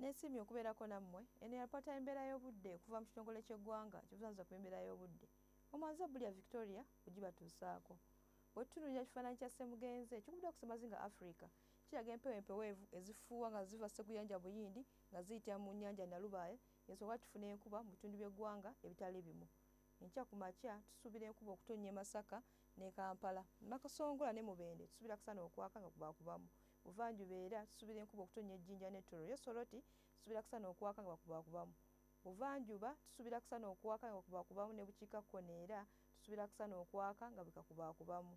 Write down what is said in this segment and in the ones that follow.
nesiimye okubeerako nammwe eno yalipota embeera y'obudde okuva mu kitongole ky'eggwanga kibuzanyiza ku embeera y'obudde omwanza bulya victoria ogibatuusaako bwe tutunulira kifaananyi kya ssemugenze ekikubidde okusemazinga africa kiraga empewo empeweevu ezifuuwa nga ziva sseguyanja buyindi nga ziyitira mu nnyanja Nalubaale ensonga tufuna enkuba mu bitundu by'eggwanga ebitali bimu. Enkya ku makya tusuubira enkuba okutonnya e Masaka ne Kampala. Mu Makasongola ne Mubende tusuubira akasana okwaka nga kubaakubamu. Buvanjuba era tusuubira enkuba okutonnya e Jinja ne Tororo. Ye Soroti tusuubira akasana okwaka nga kubaakubamu. Buvanjuba tusuubira akasana okwaka nga kubaakubamu ne bukiikakkono era tusuubira akasana okwaka nga bwe kakubaakubamu.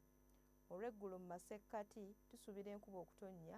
Olw'eggulo mu masekkati tusuubira enkuba okutonnya.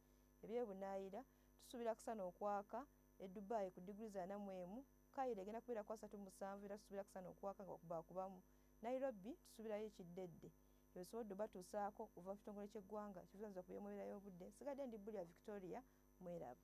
ebyebunaayira tusuubira kusana okwaka e dubai ku diguli za namwemu kairo egenda kubeera ku asatu musanvu era tusuubira kusana okwaka nga bakubamu nairobi tusuubirayo ekiddedde ebisobodde obatuusaako okuva mu kitongole ky'eggwanga kivunanyizibwa ku by'omubeera y'obudde nsigadde ndi bulya victoria mweraba